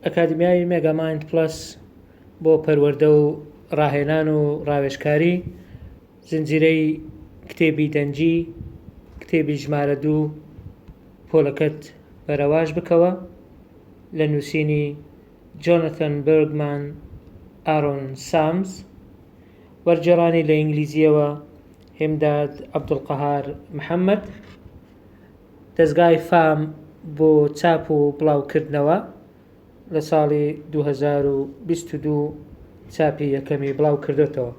ئەکادیمیای مێگامایند پڵەس بۆ پەروەردە و ڕاهێنان و ڕاوێژکاری، زنجیرەی کتێبی دەنگی، کتێبی ژمارە دوو پۆلەکەت بەرەواژ بکەوە، لە نووسینی جۆنەتان بێرگمان ئارۆن سامز، وەرگێڕانی لە ئینگلیزییەوە هێمداد عەبدولقەهار محەمەد. دەزگای فام بۆ چاپ و بڵاوکردنەوە لە ساڵی دوو هەزار و بیست و دوو چاپی یەکەمی بڵاوکردۆتەوە.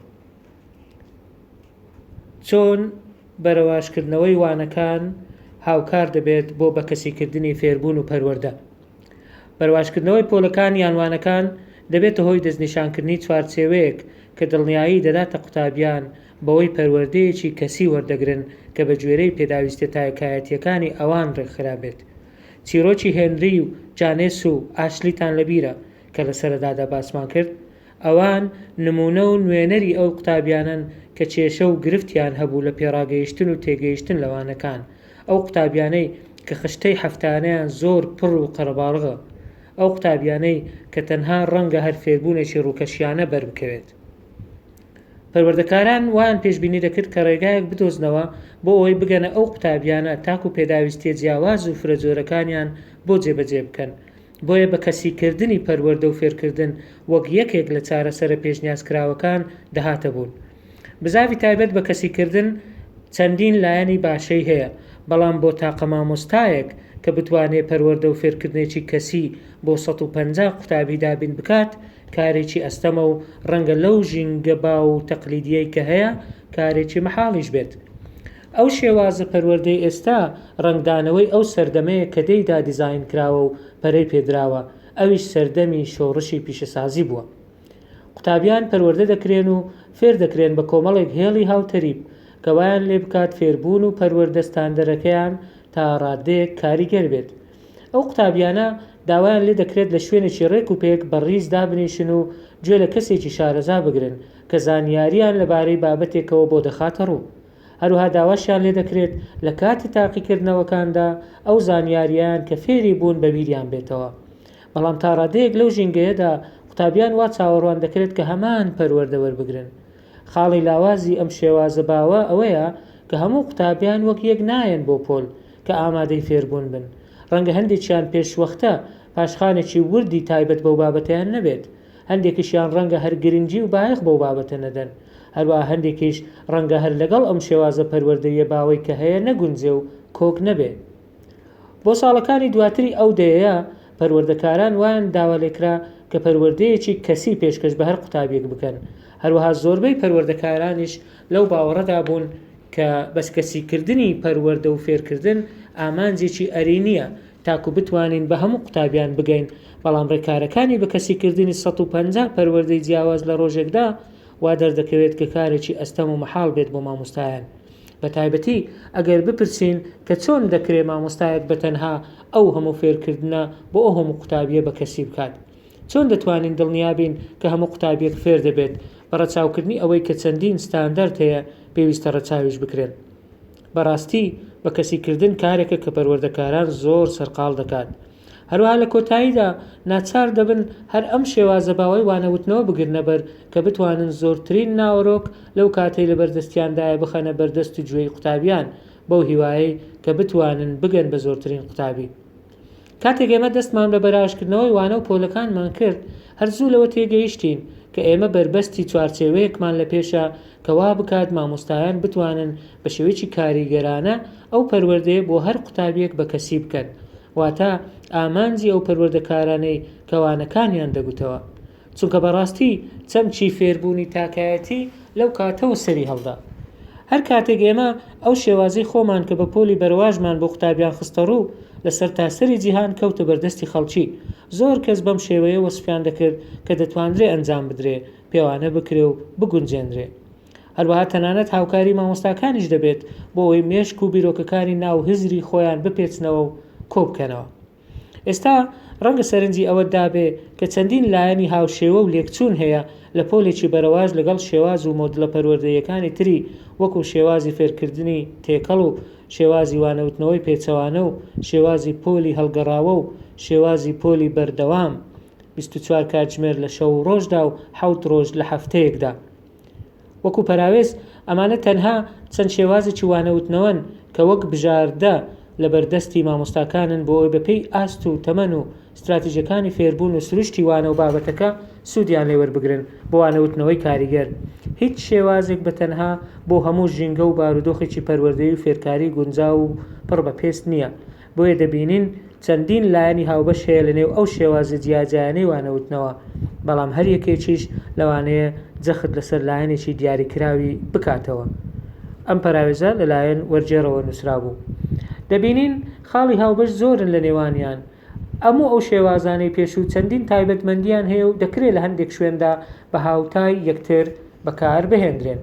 چۆن بەرەواژکردنەوەی وانەکان هاوکار دەبێت بۆ بەکەسیکردنی فێربوون و پەروەردە؟ بەرەواژکردنەوەی پۆلەکان یان وانەکان دەبێتە هۆی دەستنیشانکردنی چوارچێوەیەک کە دڵنیایی دەداتە قوتابیان بەوەی پەروەردەیەکی کەسی وەردەگرن کە بە گوێرەی پێداویستیە تاکایەتیەکانی ئەوان ڕێکخرابێت. چیرۆکی هێنری و جانێس و ئاشلیتان لەبیرە کە لە سەرەدادا باسمان کرد؟ ئەوان نمونە و نوێنەری ئەو قوتابیانەن کە کێشە و گرفتیان هەبوو لە پێڕاگەیشتن و تێگەیشتن لە وانەکان، ئەو قوتابیانەی کە خشتەی هەفتانەیان زۆر پڕ و قەرەباڵغە، ئەو قوتابیانەی کە تەنها ڕەنگە هەر فێربوونێکی ڕووکەشیانە بەربکەوێت. پەروەردەکاران وایان پێشبینی دەکرد کە ڕێگایەک بدۆزنەوە بۆ ئەوەی بگەنە ئەو قوتابیانە تاکو پێداویستییە جیاواز و فرەجۆرەکانیان بۆ جێبەجێ بکەن بۆیە بە کەسیکردنی پەروەردە و فێرکردن وەک یەکێک لە چارەسەرە پێشنیازکراوەکان دەهاتە بوون بزاڤی تایبەت بە کەسیکردن چەندین لایەنی باشەی هەیە بەڵام بۆ تاقە مامۆستایەک کە بتوانێت پەروەردە و فێرکردنێکی کەسی بۆ سەد و پەنجا قوتابی دابین بکات کارێکی ئەستەمە و ڕەنگە لەو ژینگە باو و تەقلیدییەی کە هەیە، کارێکی مەحاڵیش بێت. ئەو شێوازە پەروەردەی ئێستا، ڕەنگدانەوەی ئەو سەردەمەیە کە تێیدا دیزاین کراوە و پەرەی پێ دراوە، ئەویش سەردەمی شۆڕشی پیشەسازی بووە. قوتابیان پەروەردە دەکرێن و فێر دەکرێن بە کۆمەڵێک هێڵی هاوتەریب، کە وایان لێ بکات فێربوون و پەروەردە ستاندەرەکەیان تا ڕاددەیەک کاریگەر بێت. ئەو قوتابیانە داوایان لێ دەکرێت لە شوێنێکی رێک و پێک بە ریز دابنیشن و گوێ لە کەسێکی شارەزا بگرن کە زانیارییان لە بارەی بابەتێکەوە بۆ دەخاتە روو. هەروەها داواشیان لێ دەکرێت لە کاتی تاقیکردنەوەکاندا ئەو زانیارییەیان کە فێری بوون بە بیریان بێتەوە. بەڵام تا رادەیەک لەو ژینگەیەدا قوتابیان وا چاوەڕوان دەکرێت کە هەمان پەروەردە وەربگرن خاڵی لاوازی ئەم شێوازە باوە ئەوەیە کە هەموو قوتابیان وەک یەک نایەن بۆ پۆل کە ئامادەی فێربوون بن، ڕەنگە هەندێکیان پێشوەختە پاشخانێکی وردی تایبەت بەو بابەتەیان نەبێت، هەندێکیشیان ڕەنگە هەر گرنگی و بایەخ بەو بابەتە نەدەن، هەروەها هەندێکیش ڕەنگە هەر لەگەڵ ئەم شێوازە پەروەردەییە باوەی کە هەیە نەگونجێ و کۆک نەبێ. بۆ ساڵەکانی دواتری ئەو دەیەیە، پەروەردەکاران وایان داوالێکرا کە پەروەردەیەکی کەسی پێشکەش بە هەر قوتابییەک بکەن، هەروەها زۆربەی پەروەردەکارانیش لەو باوەڕەدا بوون کە بەس کەسیکردنی پەروەردە و فێرکردن ئامانجێکی ئەرێنییە تاکو بتوانین بە هەموو قوتابیان بگەین، بەڵام ڕێکارەکانی بە کەسیکردنی سەد و پەنجا پەروەردەی جیاواز لە ڕۆژێکدا وا دەردەکەوێت کە کارێکی ئەستەم و مەحاڵ بێت بۆ مامۆستایان. بە تایبەتی ئەگەر بپرسین کە چۆن دەکرێ مامۆستایەک بە تەنها ئەو هەموو فێرکردنە بۆ ئەو هەموو قوتابییە بە کەسی بکات؟ چۆن دەتوانین دڵنیا بین کە هەموو قوتابییەک فێر دەبێت بە ڕەچاوکردنی ئەوەی کە چەندین ستاندەرد هەیە پێویستە ڕەچاویش بکرێن؟ بەڕاستی بە کەسیکردن کارێکە کە پەروەردەکاران زۆر سەرقاڵ دەکات، هەروەها لە کۆتاییدا ناچار دەبن هەر ئەم شێوازە باوەی وانەوتنەوە بگرنە بەر کە بتوانن زۆرترین ناوەرۆک لەو کاتەی لە بەر دەستیاندایە بخەنە بەر دەست و گوێی قوتابیان بەو هیوایەی کە بتوانن بگەن بە زۆرترین قوتابی. کاتێک ئێمە دەستمان بە بەراژکردنەوەی وانە و پۆلەکانمان کرد هەر زوو لەوە تێگەیشتین کە ئێمە بەربەستی چوارچێوەیەکمان لە پێشە کە وا بکات مامۆستایان بتوانن بە شێوەیەکی کاریگەرانە ئەو پەروەردەیە بۆ هەر قوتابیەک بە کەسی بکەن واتە ئامانجی ئەو پەروەردەکارانەی کە وانەکانیان دەگوتەوە، چونکە بەڕاستی چەمکی فێربوونی تاکایەتی لەو کاتەوە سەری هەڵدا. هەر کاتێک ئێمە ئەو شێوازەی خۆمان کە بە پۆلی بەرەواژمان بۆ قوتابیان خستەڕوو، لە سەرتاسەری جیهان کەوتە بەردەستی خەڵکی، زۆر کەس بەم شێوەیە وەسفیان دەکرد کە دەتوانرێ ئەنجام بدرێ، پێوانە بکرێ و بگونجێنرێ. هەروەها تەنانەت هاوکاری مامۆستاکانیش دەبێت بۆ ئەوەی مێشک و بیرۆکەکانی ناو هزری خۆیان بپێچنەوە و کۆبکەنەوە ئێستا ڕەنگە سەرنجی ئەوە دابێ کە چەندین لایەنی هاوشێوە و لێکچوون هەیە لە پۆلێکی بەرەواش لەگەڵ شێواز و مۆدلە پەروەردەیەکانی تری وەکو شێوازی فێرکردنی تێکەڵ و شێوازی وانەوتنەوەی پێچەوانە و شێوازی پۆلی هەڵگەڕاوە و شێوازی پۆلی بەردەوام 24 کاتژمێر لە شەو و ڕۆژدا و حەوت ڕۆژ لە هەفتەیەکدا وەکو پەراوێز، ئەمانە تەنها چەند شێوازێکی وانەوتنەوەن کە وەک بژاردە لەبەردەستی مامۆستاکانن بۆ ئەوەی بەپێی ئاست و تەمەن و ستراتیجەکانی فێربوون و سروشتی وانە و بابەتەکە سودیان لێ وەربگرن بۆ وانەوتنەوەی کاریگەر هیچ شێوازێک بەتەنها بۆ هەموو ژینگە و بارودۆخێکی پەروەردەیی و فێرکاری گونجاو و پڕ بە پێست نییە بۆیە دەبینین چەندین لایەنی هاوبەش هەیە لەنێو ئەو شێوازە جیاجیایانەی وانەوتنەوە، بەڵام هەر یەکێکیش لەوانەیە جەخت لەسەر لایەنێکی دیاریکراوی بکاتەوە. ئەم پەراوێزە لەلایەن وەرگێڕەوە نووسرابوو. دەبینین خاڵی هاوبەش زۆرن لەنێوانیان. هەموو ئەو شێوازانەی پێشوو چەندین تایبەتمەندییان هەیە و دەکرێ لە هەندێک شوێندا بە هاوتای یەکتر بەکاربهێندرێن.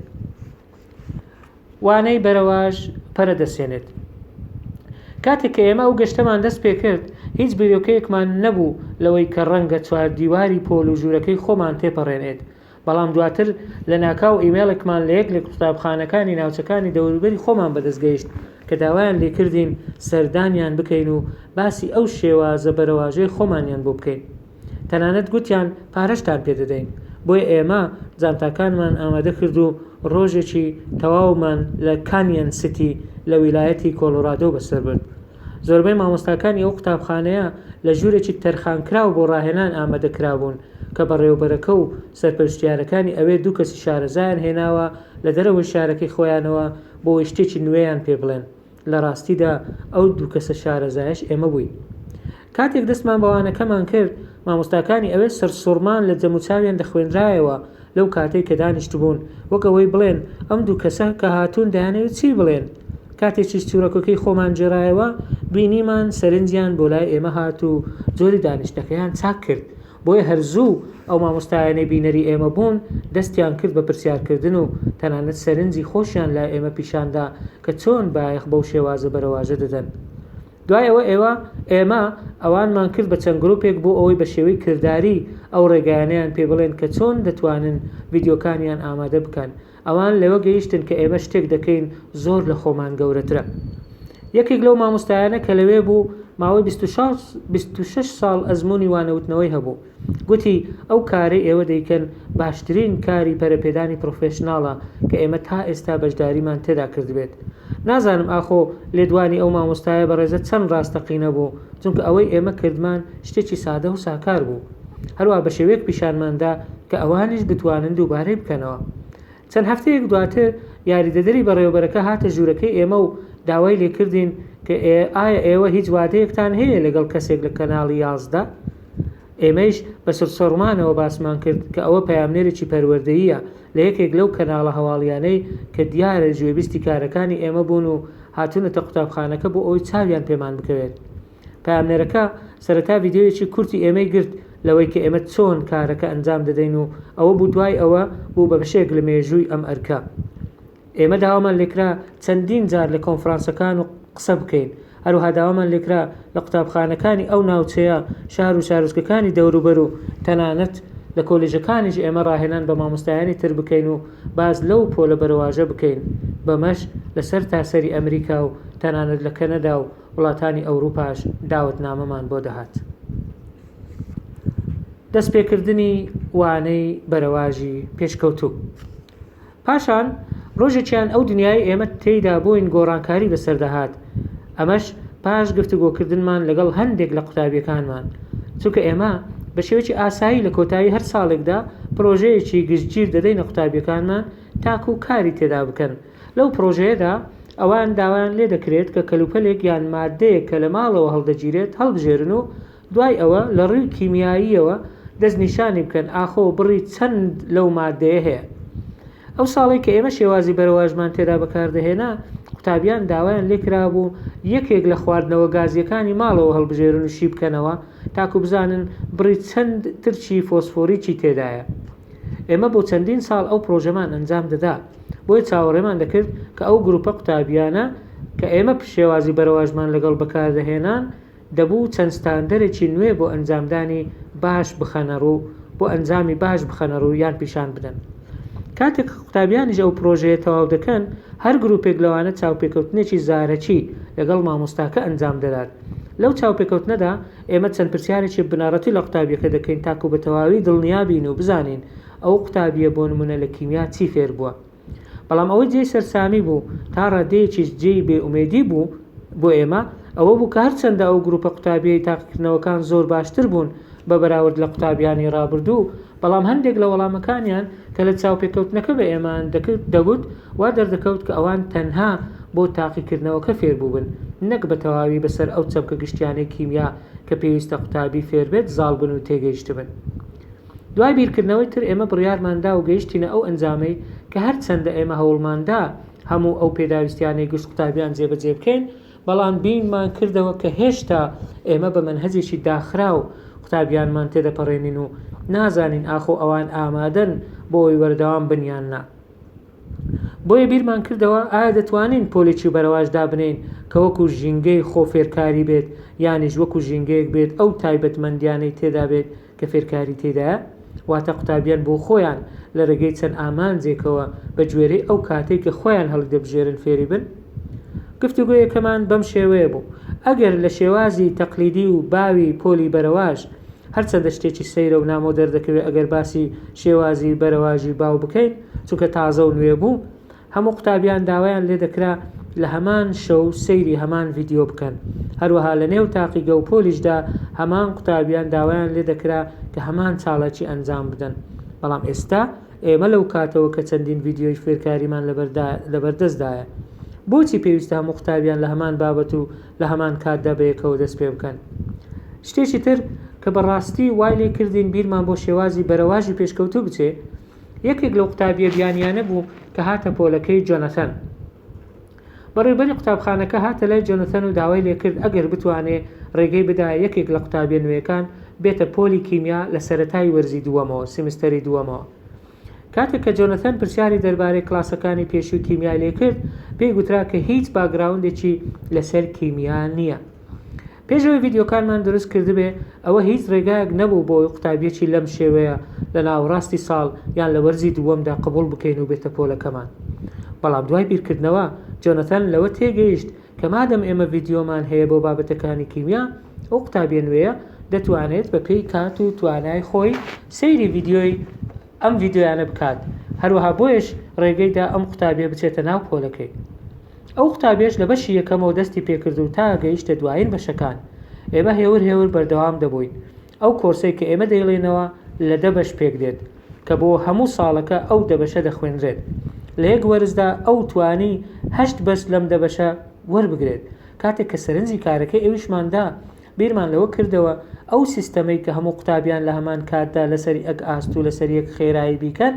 وانەی بەرەواژ پەرە دەسێنێت. کاتێک کە ئێمە ئەو گەشتەمان دەست پێکرد، هیچ بیرۆکەیەکمان نەبوو لەوەی کە ڕەنگە چواردیواری پۆل و ژوورەکەی خۆمان تێپەڕێنێت، بەڵام دواتر لەناکاو ئیمەیڵێکمان لە یەک لە قوتابخانەکانی ناوچەکانی دەوروبەری خۆمان بەدەست گەیشت کە داوایان لێکردین سەردانیان بکەین و باسی ئەو شێوازە بەرەواژەی خۆمانیان بۆ بکەین. تەنانەت گوتیان پارەشتان پێ دەدەین. بۆیە ئێمە جانتاکانمان ئامادە کرد و ڕۆژێکی تەواومان لە کانیەن سیتی لە ویلایەتی کۆڵۆرادۆ بەسەر برد. زۆربەی مامۆستاکانی ئەو قوتابخانەیە لە ژوورێکی تەرخانکراو بۆ ڕاهێنان ئامادە کرابوون کە بەڕێوەبەرەکە و سەرپەرشتیارەکانی ئەوێ دوو کەسی شارەزایان هێناوە لە دەرەوەی شارەکەی خۆیانەوە بۆی شتێکی نوێیان پێ بڵێن. لە ڕاستیدا ئەو دوو کەسە شارەزایەش ئێمە بووین. کاتێک دەستمان بە وانەکەمان کرد، مامۆستاکانی ئەوێ سەرسوڕمان لە جەموچاویان دەخوێنرایەوە لەو کاتەی کە دانیشتبوون، وەک ئەوەی بڵێن ئەم دوو کەسە کە هاتوون دەیانەوێ چی بڵێن؟ کاتێ چیچوورەکەکەی خۆمان گێڕایەوە، بینیمان سەرنجیان بۆ لای ئێمە هات و جۆری دانیشتنەکەیان چاک کرد، بۆیە هەر زوو ئەو مامۆستایانەی بینەری ئێمە بوون دەستیان کرد بە پرسیارکردن و تەنانەت سەرنجی خۆشیان لای ئێمە پیشاندا کە چۆن بایەخ بەو شێوازە بەرەواژە دەدەن. دوای ئەوە ئێوە، ئێمە، ئەوانمان کرد بە چەند گروپێک بۆ ئەوەی بە شێوەی کرداری ئەو ڕێگایانەیان پێ بڵێن کە چۆن دەتوانن ڤیدیۆکانیان ئامادە بکەن. ئەوان لەوە گەیشتن کە ئێمە شتێک دەکەین زۆر لە خۆمان گەورەترە. یەکێک لەو مامۆستایانە کە لەوێ بوو ماوەی بیست و شەش ساڵ ئەزموونی وانەوتنەوەی هەبوو. گوتی، ئەو کارەی ئێوە دەیکەن باشترین کاری پەرەپێدانی پڕۆفێشناڵە کە ئێمە تا ئێستا بەشداریمان تێدا کردبێت. نازانم ئاخۆ لێدوانی ئەو مامۆستایە بەڕێزە چەند ڕاستەقینە بوو، چونکە ئەوەی ئێمە کردمان شتێکی سادە و ساکار بوو. هەروەها بە شێوەیەک پیشانمان دا کە ئەوانیش بتوانن دووبارەی بکەنەوە. چەند هەفتەیەک دواتر یاریدەدەری بەڕێوەبەرەکە هاتە ژوورەکەی ئێمە و داوای لێکردین کە ئایا ئێوە هیچ وادەیەکتان هەیە لەگەڵ کەسێک لە کەناڵی یازدە؟ ئێمەیش بە سرسڕمانەوە باسمان کرد کە ئەوە پەیامنێرێکی پەروەردەییە لە یەکێک لەو کەناڵە هەواڵیانەی کە دیارە گوێبیستی کارەکانی ئێمە بوون و هاتوونەتە قوتابخانەکە بۆ ئەوەی چاویان پێمان بکەوێت. پەیامنێرەکە سەرەتا ڤیدیۆیەکی کورتی ئێمەی گرت لەوەی کە ئێمە چۆن کارەکە ئەنجام دەدەین و ئەوە بوو دوای ئەوە بوو بە بەشێک لە مێژووی ئەم ئەرکە. ئێمە داوامان لێکرا چەندین جار لە کۆنفرانسەکان و قسە بکەین، هەروەها داوامان لێکرا لە قوتابخانەکانی ئەو ناوچەیە، شار و شارۆچکەکانی دەوروبەر و تەنانەت لە کۆلێژەکانیش ئێمە ڕاهێنان بە مامۆستایانی تر بکەین و باس لەو پۆلە بەرەواژە بکەین، بەمەش لە سەرتاسەری ئەمریکا و تەنانەت لە کەنەدا و وڵاتانی ئەوروپاش داوەتنامەمان بۆ دەهات. دەستپێکردنی وانەی بەرەواژی پێشکەوتوو پاشان ڕۆژێکیان ئەو دنیای ئێمە تێیدا بووین گۆڕانکاری بەسەردەهات ئەمەش پاش گفتوگۆکردنمان لەگەڵ هەندێک لە قوتابیەکانمان چونکە ئێمە بە شێوەیەکی ئاسایی لە کۆتایی هەر ساڵێکدا پرۆژەیەکی گشتگیر دەدەینە قوتابیەکانمان تاکو کاری تێدا بکەن لەو پڕۆژەیەدا ئەوان داوایان لێ دەکرێت کە کەلوپەلێک یان ماددەیەک کە لە ماڵەوە هەڵدەگیرێت هەڵبژێرن و دوای ئەوە لە ڕووی کیمیاییەوە دەستنیشانی بکەن ئاخۆ بڕی چەند لەو ماددەیە هەیە. ئەو ساڵەی کە ئێمە شێوازی بەرەواژمان تێدا بەکاردەهێنا، قوتابیان داوایان لێ کرابوو یەکێک لە خواردنەوە گازییەکانی ماڵەوە هەڵبژێرن و شی بکەنەوە تاکو بزانن بڕی چەند ترچی فۆسفۆریکی تێدایە. ئێمە بۆ چەندین ساڵ ئەو پرۆژەمان ئەنجام دەدا بۆیە چاوەڕێمان دەکرد کە ئەو گروپە قوتابیانە کە ئێمە پشێوازی بەرەواژمان لەگەڵ بەکاردەهێنان دەبوو چەند ستاندەرێکی نوێ بۆ ئەنجامدانی باش بخەنەڕوو بۆ ئەنجامی باش بخەنەڕوو یان پیشان بدەن کاتێک قوتابیانیش ئەو پرۆژەیە تەواو دەکەن هەر گروپێک لەوانە چاوپێکەوتنێکی زارەکی لەگەڵ مامۆستاکە ئەنجام دەدات لەو چاوپێکەوتنەدا ئێمە چەند پرسیارێکی بنەڕەتی لە قوتابیەکە دەکەین تاکو بە تەواوی دڵنیا بین و بزانین ئەو قوتابیە بۆ نمونە لە کیمیا چی فێر بووە بەڵام ئەوەی جێی سەرسامی بوو تا ڕادەیەکیش جێی بێ ئومێدی بوو بۆ ئێمە ئەوە بوو کە هەرچەندە ئەو گروپە قوتابیەی تاقیکردنەوەکان زۆر باشتر بوون بە بەراورد لە قوتابیانی ڕابردوو بەڵام هەندێک لە وەڵامەکانیان کە لە چاوپێکەوتنەکە بە ئێمەیان دەکرد دەگوت، وا دەردەکەوت کە ئەوان تەنها بۆ تاقیکردنەوەکە فێربووبن، نەک بە تەواوی بەسەر ئەو چەمکە گشتیانەی کیمیا کە پێویستە قوتابی فێربێت زاڵبن و تێگەیشتبن. دوای بیرکردنەوەی تر ئێمە بڕیارمان دا و گەیشتینە ئەو ئەنجامەی کە هەرچەندە ئێمە هەوڵماندا هەموو ئەو پێداویستیانەی گشت قوتابیان جێبەجێ بکەین، بەڵام بینمان کردەوە کە هێشتا ئێمە بە مەنهەجێکی داخراو قوتابیانمان تێدەپەڕێنین و نازانین ئاخۆ ئەوان ئامادەن بۆ ئەوەی وەردەوام بن یان نا. بۆیە بیرمان کردەوە ئایا دەتوانین پۆلێکی بەرەواش دابنێین کە وەکو ژینگەی خۆ فێرکاری بێت یانیش وەکو ژینگەیەک بێت ئەو تایبەتمەندیانەی تێدا بێت کە فێرکاری تێدایە، واتە قوتابیان بۆ خۆیان لە رێگەی چەند ئامانجێکەوە بە گوێرەی ئەو کاتەی کە خۆیان هەڵیدەبژێرن فێری بن. گفتوگۆیەکەمان بەم شێوەیە بوو، ئەگەر لە شێوازی تەقلیدی و باوی پۆلی بەرەواژ، هەرچەندە شتێکی سەیرە و نامۆ دەردەکەوێت ئەگەر باسی شێوازی بەرەواژی باو بکەین، چونکە تازە و نوێ بوو، هەموو قوتابیان داوایان لێدەکرا لە هەمان شەو سەیری هەمان ڤیدیۆ بکەن، هەروەها لە نێو تاقیگە و پۆلیشدا هەمان قوتابیان داوایان لێدەکرا کە هەمان چالاکی ئەنجام بدەن، بەڵام ئێستا ئێمە لەو کاتەوە کە چەندین ڤیدیۆی فێرکاریمان لەبەردەستدایە، بۆچی پێویستە هەموو قوتابیان لە هەمان بابەت و لە هەمان کاتدا بەیەکەوە دەست پێ بکەن؟ شتێکی تر کە بە ڕاستی وای لێ کردین بیرمان بۆ شێوازی بەرەواژی پێشکەوتوو بچێ، یەکێک لەو قوتابییە بیانییانە بوو کە هاتە پۆلەکەی جۆنەثەن. بەڕێوبەری قوتابخانەکە هاتە لای جۆنەثەن و داوای لێ کرد ئەگەر بتوانێ رێگەی بدایە یەکێک لە قوتابییە نوێیەکان بێتە پۆلی کیمیا لە سەرەتای وەرزی دووەمەوە، سیمستەری دووەمەوە. کاتێک کە جۆنەثەن پرسیاری دەربارەی کلاسەکانی پێشووی کیمیای لێ کرد، پێی گوترا کە هیچ باکگراوندێکی لەسەر کیمیا نییە. پێش ئەوەی ڤیدیۆکانمان دروست کردبێ ئەوە هیچ ڕێگایەک نەبوو بۆ ئەوەی قوتابیەکی لەم شێوەیە لە ناوەڕاستی ساڵ یان لە وەرزی دووەمدا قبوڵ بکەین و بێتە پۆلەکەمان بەڵام دوای بیرکردنەوە جۆنەتان لەوە تێگەیشت کە مادەم ئێمە ڤیدیۆمان هەیە بۆ بابەتەکانی کیمیا ئەو قوتابیە نوێیە دەتوانێت بەپێی کات و توانای خۆی سەیری ڤیدیۆی ئەم ڤیدیۆیانە بکات هەروەها بۆیەش ڕێگەی دا ئەم قوتابیە بچێتە ناو پۆلەکەی ئەو قوتابیەش لە بەشی یەکەمەوە دەستی پێکرد و تا گەیشتە دوایین بەشەکان ئێمە هێور هێور بەردەوام دەبووین ئەو کۆرسەی کە ئێمە دەیڵێینەوە لە دە بەش پێک دێت کە بۆ هەموو ساڵەکە ئەو دە بەشە دەخوێنرێت لە یەک وەرزدا ئەو توانی هەشت بەش لەم دە بەشە وەربگرێت کاتێک کە سەرنجی کارەکەی ئەویشمان دا بیرمان لەوە کردەوە ئەو سیستەمەی کە هەموو قوتابیان لە هەمان کاتدا لەسەر یەک ئاست و لەسەر یەک خێرایی بیکەن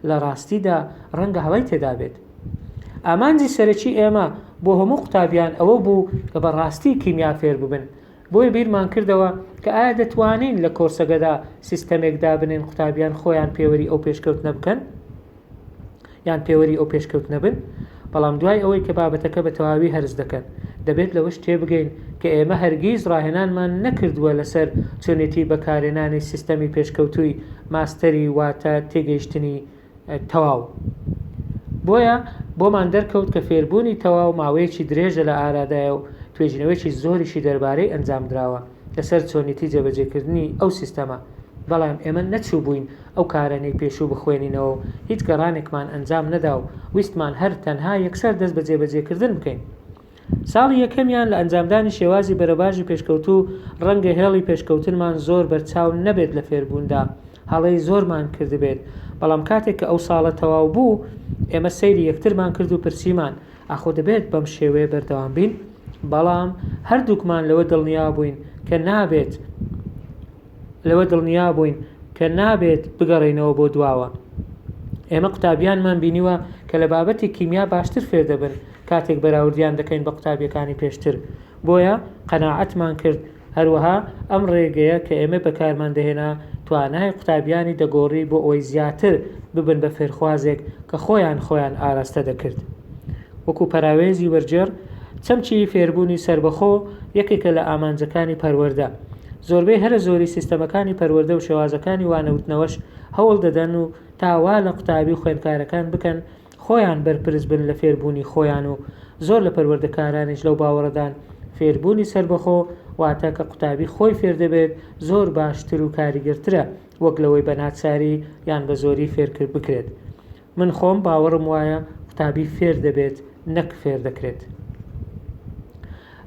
لە ڕاستیدا ڕەنگە هەڵەی تێدا بێت. ئامانجی سەرەکی ئێمە بۆ هەموو قوتابیان ئەوە بوو کە بە ڕاستی کیمیا فێر ببن، بۆیە بیرمان کردەوە کە ئایا دەتوانین لە کۆرسەگەدا سیستەمێک دابنێن قوتابیان خۆیان پێوەری ئەو پێشکەوتنە بکەن؟ یان پێوەری ئەو پێشکەوتنە بن، بەڵام دوای ئەوەی کە بابەتەکە بە تەواوی هەرس دەکەن، دەبێت لەوەش تێبگەین کە ئێمە هەرگیز ڕاهێنانمان نەکردووە لەسەر چۆنێتی بەکارێنانی سیستەمی پێشکەوتووی ماستەری واتە تێگەیشتنی تەواو. بۆیە بۆمان دەرکەوت کە فێربوونی تەواو ماوەیەکی درێژە لە ئارادایە و توێژینەوەیەکی زۆریشی دەربارەی ئەنجامدراوە. لەسەر چۆنیتی جێبەجێکردنی ئەو سیستەمە، بەڵام ئێمە نەچووبووین ئەو کارانەی پێشوو بخوێنینەوە و هیچ گەڕانێکمان ئەنجام نەدا و ویستمان هەر تەنها یەکسەر دەست بە جێبەجێکردن بکەین. ساڵی یەکەمیان لە ئەنجامدانی شێوازی بەرەباژی پێشکەوتوو، ڕەنگە هێڵی پێشکەوتنمان زۆر بەرچاو نەبێت لە فێربووندا، هەڵەی زۆرمان کردبێت، بەڵام کاتێک کە ئەو ساڵە تەواو بوو، ئێمە سەیری یەکترمان کرد و پرسیمان، ئاخۆ دەبێت بەم شێوەیە بەردەوام بین؟ بەڵام هەردووکمان لەوە دڵنیا بووین کە نابێت لەوە دڵنیا بووین کە نابێت بگەڕێینەوە بۆ دواوە ئێمە قوتابیانمان بینیوە کە لە بابەتی کیمیا باشتر فێر دەبن کاتێک بەراوردیان دەکەین بە قوتابیەکانی پێشتر بۆیە قەناعەتمان کرد هەروەها ئەم ڕێگەیە کە ئێمەی بەکارمان دەهێنا توانای قوتابیانی دەگۆڕی بۆ ئەوەی زیاتر ببن بە فێرخوازێک کە خۆیان خۆیان ئاراستە دەکرد. وەکو پەراوێزی وەرگێڕ، چەمکی فێربوونی سەربەخۆ یەکێکە لە ئامانجەکانی پەروەردە. زۆربەی هەرە زۆری سیستەمەکانی پەروەردە و شێوازەکانی وانەوتنەوەش هەوڵ دەدەن و تا وا لە قوتابی و خوێندکارەکان بکەن خۆیان بەرپرس بن لە فێربوونی خۆیان و زۆر لە پەروەردەکارانیش لەو باوەڕەدان فێربوونی سەربەخۆ واتە کە قوتابی خۆی فێردەبێت زۆر باشتر و کاریگەرترە وەک لەوەی بە ناچاری یان بە زۆری فێرکرد بکرێت من خۆم باوەڕم وایە قوتابی فێر دەبێت نەک فێر دەکرێت.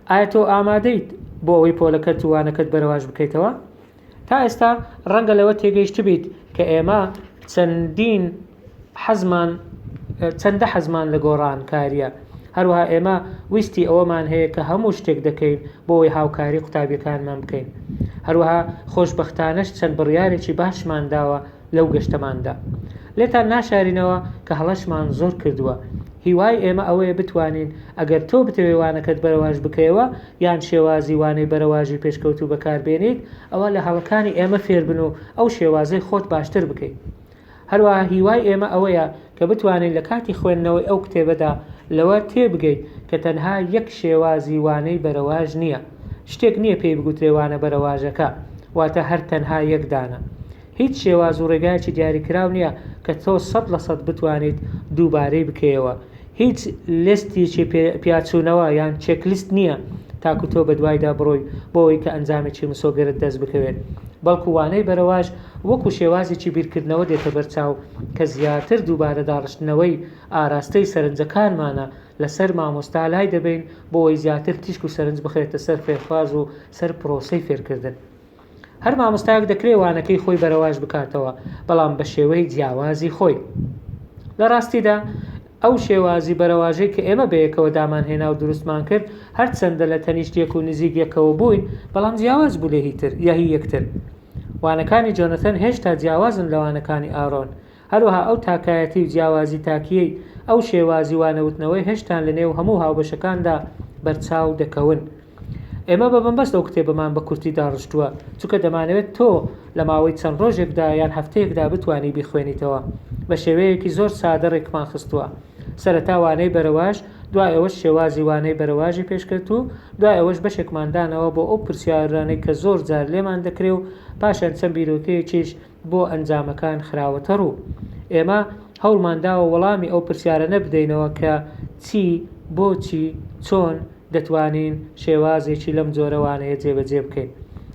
ئایا تۆ ئامادەیت بۆ ئەوەی پۆلەکەت و وانەکەت بەرەواش بکەیتەوە؟ تا ئێستا ڕەنگە لەوە تێگەیشتبیت کە ئێمە چەندین حەزمان چەندە حەزمان لە گۆڕانکاریە هەروها ئێمە ویستی ئەوەمان هەیە کە هەموو شتێک دەکەین بۆی هاوکاری قوتابیەکانمان بکەین هەروها خۆشببختانەش چەند بڕیارێکی باشمان داوە لەو گەشتەماندا لێتان ناشارینەوە کە هەڵەشمان زۆر کردووە هیوای ئێمە ئەوەیە بتوانین ئەگەر تۆ بتەوێوانەکەت بەرەواش بکەیەوە یان شێوازی وانەی بەرەواژی پێشکەوتوو بەکار بێنیت، ئەوا لە هەڵەکانی ئێمە فێر بن و ئەو شێوازەی خۆت باشتر بکەیت. هەروەها هیوای ئێمە ئەوەیە کە بتوانین لە کاتی خوێندنەوەی ئەو کتێبەدا لەوە تێبگەیت کە تەنها یەک شێوازی وانەی بەرەواژ نییە، شتێک نییە پێی بگوترێ وانە بەرەواژەکە، واتە هەر تەنها یەک دانە. هیچ شێواز و ڕێگایەکی دیاریکراو نییە کە تۆ سەد لە سەد بتوانیت دووبارەی بکەیەوە. هیچ لێستیکی پیاچوونەوە یان چێک لیست نییە تاکو تۆ بەدوایدا بڕۆی بۆ ئەوەی کە ئەنجامێکی مسۆگەرت دەست بکەوێت. بەڵکو وانەی بەرەواش وەکو شێوازێکی بیرکردنەوە دێتە بەر چاو کە زیاتر دووبارە داڕشتنەوەی ئاراستەی سەرنجەکانمانە لەسەر مامۆستا لای دەبەین بۆ ئەوەی زیاتر تیشک و سەرنج بخرێتە سەر فێرخواز و سەر پرۆسەی فێرکردن. هەر مامۆستایەک دەکرێ وانەکەی خۆی بەرەواژ بکاتەوە بەڵام بە شێوەی جیاوازی خۆی. لە ڕاستیدا ئەو شێوازی بەرەواژەی کە ئێمە بەیەکەوە دامانهێنا و دروستمان کرد هەرچەندە لە تەنیشت یەک و نزیک یەکەوە بووین بەڵام جیاواز بوو لە هی یەکتر. وانەکانی جۆنەتەن هێشتا جیاوازن لە وانەکانی ئارۆن. هەروەها ئەو تاکایەتی و جیاوازی تاکییەی ئەو شێوازی وانەوتنەوەی هەشتان لە نێو هەموو هاوبەشەکاندا بەرچاو دەکەون. ئێمە بە بنبەست ئەو کتێبەمان بە کورتی داڕشتووە، چونکە دەمانەوێت تۆ لە ماوەی چەند ڕۆژێکدا یان هەفتەیەکدا بتوانی بیخوێنیتەوە. بە شێوەیەکی زۆر سادە ڕێکمان خستووە. سەرەتا وانەی بەرەواژ، دوای ئەوەش شێوازی وانەی بەرەواژی پێشکەت و دوای ئەوەش بەشێکمان دانەوە بۆ ئەو پرسیارانەی کە زۆر جار لێمان دەکرێ و پاشان چەند بیرۆکەیەکیش بۆ ئەنجامەکان خراوەتە ڕوو. ئێمە هەوڵمان داوە وەڵامی ئەو پرسیارەنە بدەینەوە کە چی، بۆچی، چۆن دەتوانین شێوازێکی لەم جۆرە وانەیە جێبەجێ بکەین.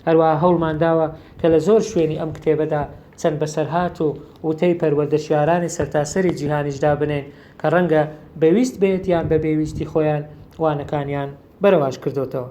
هەروەها هەوڵمان داوە کە لە زۆر شوێنی ئەم کتێبەدا چەند بەسەرهات و وتەی پەروەردەشیارانی سەرتاسەری جیهانیش دابنێین کە ڕەنگە بە ویست بێت یان بە بێ ویستی خۆیان وانەکانیان بەرەواژ کردۆتەوە.